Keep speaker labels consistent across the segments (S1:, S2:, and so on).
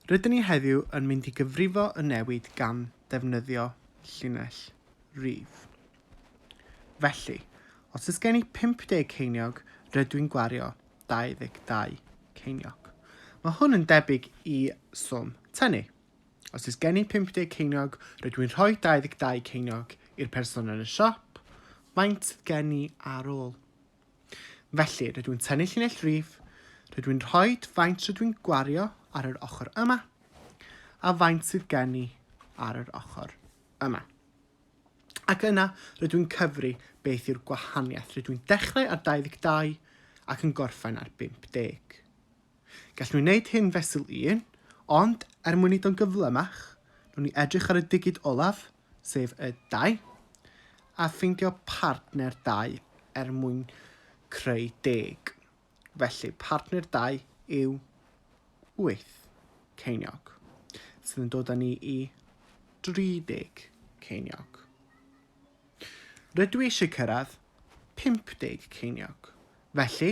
S1: Rydyn ni heddiw yn mynd i gyfrifo y newid gan ddefnyddio llinell rif. Felly, os oes gen i 50 ceiniog, rydw i'n gwario 22 ceiniog. Mae hwn yn debyg i swm tynnu. Os oes gen i 50 ceiniog, rydw i'n rhoi 22 ceiniog i'r person yn y siop, faint sydd gen i ar ôl? Felly, rydw i'n tynnu llinell rif, rydw i'n rhoi faint rydw i'n gwario ar yr ochr yma, a faint sydd gen i ar yr ochr yma. Ac yna, rydw i'n cyfri beth yw'r gwahaniaeth. Rydw i'n dechrau ar 22 ac yn gorffen ar 50. Gallwn ni wneud hyn fesul un, ond er mwyn wneud o'n gyflymach, rwy'n ni edrych ar y digid olaf, sef y dau, a ffeindio partner dau er mwyn creu deg. Felly, partner dau yw wyth ceiniog, sydd yn dod â ni i 30 ceiniog. Rydw i eisiau cyrraedd 50 ceiniog. Felly,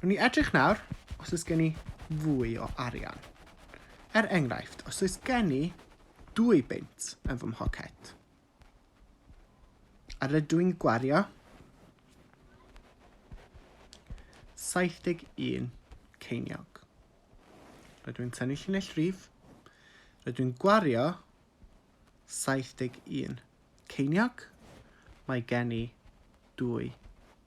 S1: Rwy'n ni edrych nawr os oes gen i fwy o arian. Er enghraifft, os oes gen i dwy beint yn fy mhocet, a rydw i'n gwario 71 ceiniog. Rydw i'n tynnu llinell rif, rydw i'n gwario 71 ceiniog, mae gen i dwy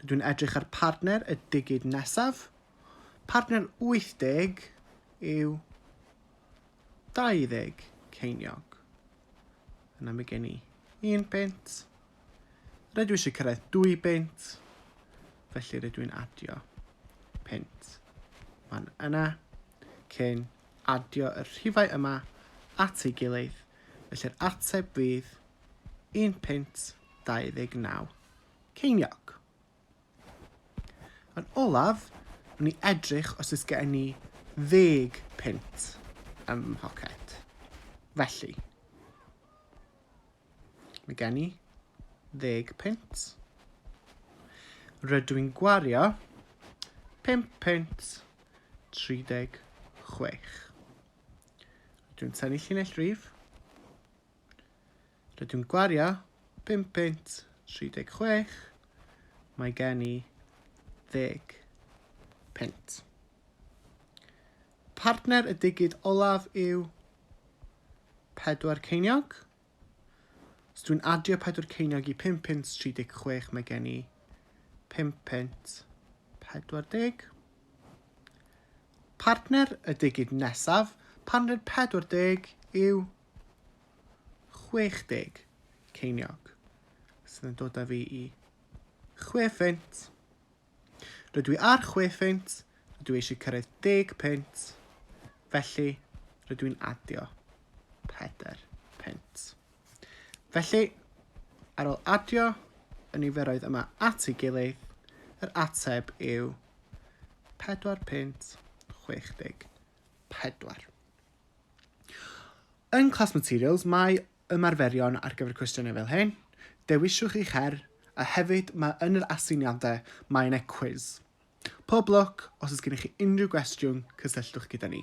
S1: Rydw i'n edrych ar partner y digid nesaf. Partner 80 yw 20 ceiniog. Yna mae gen i un pint. Rydw i eisiau cyrraedd dwy bint. Felly rydw i'n adio pint fan yna cyn adio y rhifau yma at ei gilydd. Felly'r ateb fydd un pint 29. Ceiniog. Yn olaf, wni i edrych os oes gen i ddeg pint ym mhoced. Felly, mae gen i ddeg pint. Rydw i'n gwario 5 pint 36. Rydw i'n tynnu llinell rif. Rydyw'n gwario pum punt tri deg chwech, mae gen i ddeg punt. Partner y digid olaf yw pedwar ceiniog. Os dwi'n adio pedwar ceiniog i pum punt tri deg chwech, mae gen i pum punt pedwar deg. Partner y digid nesaf, partner pedwar deg yw 60 ceiniog sydd yn dod â fi i chwe ffint. Rydw i ar chwe ffint, rydw i eisiau cyrraedd deg pint, felly rydw i'n adio pedair pint. Felly, ar ôl adio y niferoedd yma at ei gilydd, yr ateb yw 4 pint 64. Yn Class Materials mae ymarferion ar gyfer cwestiynau fel hyn, dewiswch eich her, a hefyd mae yn yr aseiniadau mae yna cwis. Pob lwc, os oes gennych chi unrhyw gwestiwn, cysylltwch gyda ni.